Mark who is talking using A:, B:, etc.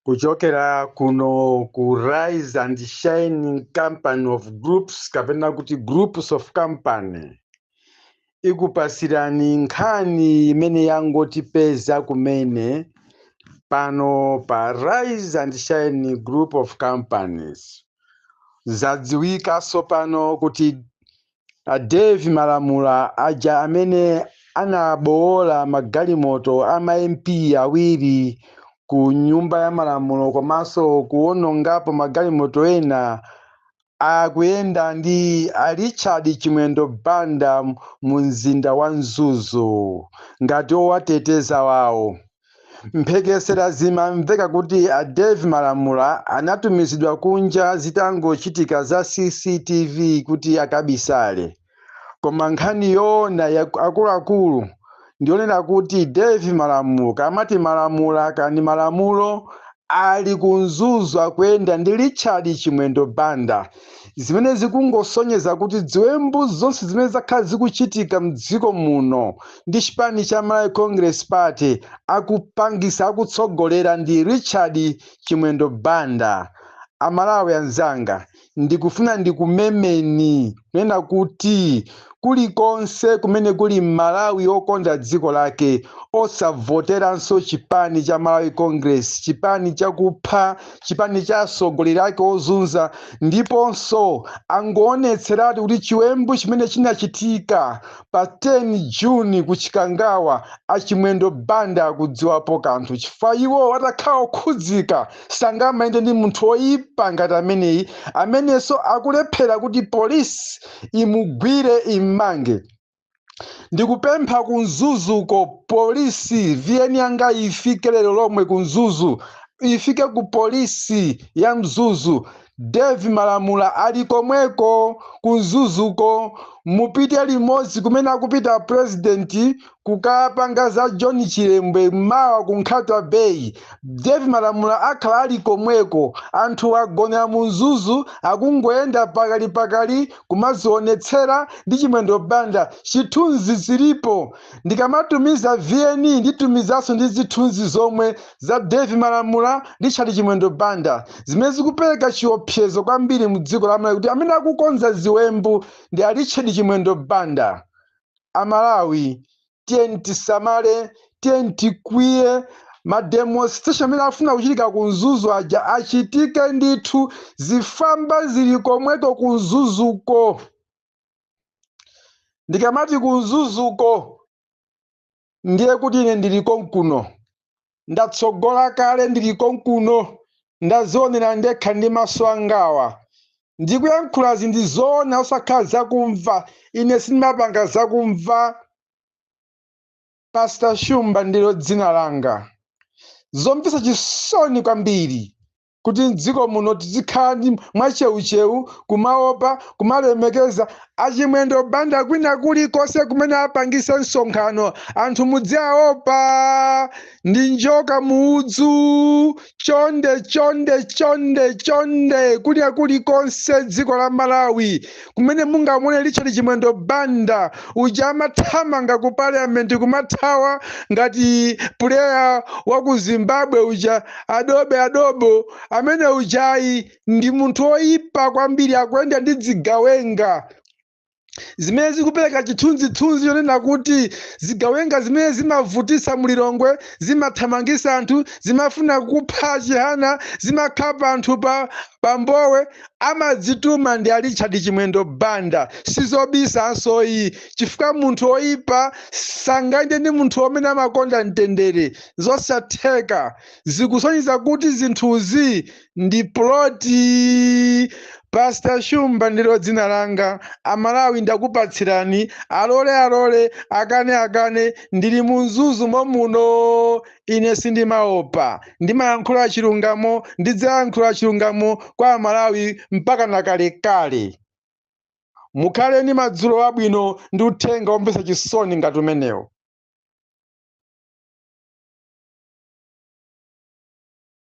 A: kuchokera kuno ku Rise and Shine company of groups kapena kuti groups of company ikupasirani nkhani imene yangotipeza kumene pano pa Rise and Shine group of companies zadziwikanso pano kuti A Dave Malamula aja amene anabowola magalimoto a ma MP awiri ku nyumba ya malamulo komanso kuwonongapo magalimoto ena akuyenda ndi a Richard Chimwendo Banda mu mzinda wa Mzuzu ngati owateteza wawo. Mphekesera zimamveka kuti a Dave Malamula anatumizidwa kunja zitangochitika za CCTV kuti akabisale. Koma nkhani yoona ya akuluakulu ndiyonena kuti Dave Malamulo kamati Malamula kani Malamulo ali ku Mzuzu akuyenda ndi Richard Chimwendo Banda zimene zikungosonyeza kuti ziwembu zonse zimene zakhala zikuchitika m'dziko muno ndi chipani cha Malawi Congress Party akupangisa akutsogolera ndi Richard Chimwendo Banda. Amalawi anzanga, ndikufuna ndikumemeni kunena kuti kulikonse kumene kuli Malawi okonda dziko lake osavoteranso chipani cha Malawi Congress, chipani chakupha, chipani cha atsogoleri ake ozunza, ndiponso angoonetseratiu kuti chiwembu chimene chinachitika Pa 10 June ku Chikangawa a Chimwendo Banda akudziwapo kanthu chifukwa iwo atakhala okhudzika sangamayende ndi munthu oyipa ngati ameneyi amenenso akulephera kuti police imugwire immange. Ndikupempha ku Mzuzuko police VN yanga ifike lero lomwe ku Mzuzu ifike ku police ya Mzuzu. Dave Malamula ali komweko ku Mzuzuko, mupite limodzi kumene akupita President kukapanga za John Chilembwe mawa ku Nkhata Bay. Dave Malamula akhala ali komweko, anthu agonera mu Mzuzu akungoyenda pakalipakali kumadzionetsera ndi Chimwendo Banda. Zithunzi zilipo, ndikamatumiza VN nditumizaso ndi zithunzi zomwe. za Dave Malamula, Richard Chimwendo Banda zimene zikupereka chiopsezo kwambiri mu dziko la Malawi kuti amene akukonza ziwembu ndi a Richard Chimwendo Banda. Amalawi tiyeni tisamale, tiyeni tikwiye ma demonstration amene afuna kuchitika ku Mzuzu aja achitike ndithu, zifwamba zili komweko ku Mzuzuko. Ndikamati ku Mzuzuko ndiye kuti ine ndili konkuno ndatsogola kale ndili konkuno ndazionera ndekha ndi maso angawa ndikuyankhula zinthu zoona osakhala zakumva ine sindimapanga zakumva pastor shumba ndilo dzina langa zomvetsa chisoni kwambiri kuti mdziko muno tizikhala ndi mwacheucheu kumaopa kumalemekeza achimwendo banda kwina kulikonse kumene apangise msonkhano anthu mudziaopa ndi njoka muudzu chonde chonde chonde chonde kwina kulikonse dziko la malawi kumene mungamuone richard chimwendo banda uja amathamanga ku parliament kumathawa ngati puleya wa ku zimbabwe uja adobe adobo amene ujayi ndi munthu oyipa kwambiri akuyenda ndi dzigawenga zimene zikupereka chithunzithunzi chonena kuti zigawenga zimene zimavutisa mulilongwe zimathamangisa anthu zimafuna kupha chihana zimakhapa anthu pa mbowe Amadzituma ndi a Richard Chimwendo Banda sizobisanso iyi chifukwa munthu oyipa sangayende ndi munthu omene amakonda mtendere zosatheka zikusonyeza kuti zinthuzi ndi plot Pastor Shumba ndilo dzina langa amalawi ndakupatsirani alole alole akane akane ndili mu Mzuzu momuno Ine sindimaopa, ndimayankhula chilungamo, ndidzayankhula chilungamo kwa Amalawi mpaka na kalekale. Mukhale ndi madzulo abwino ndi uthenga womvetsa chisoni ngati umenewo.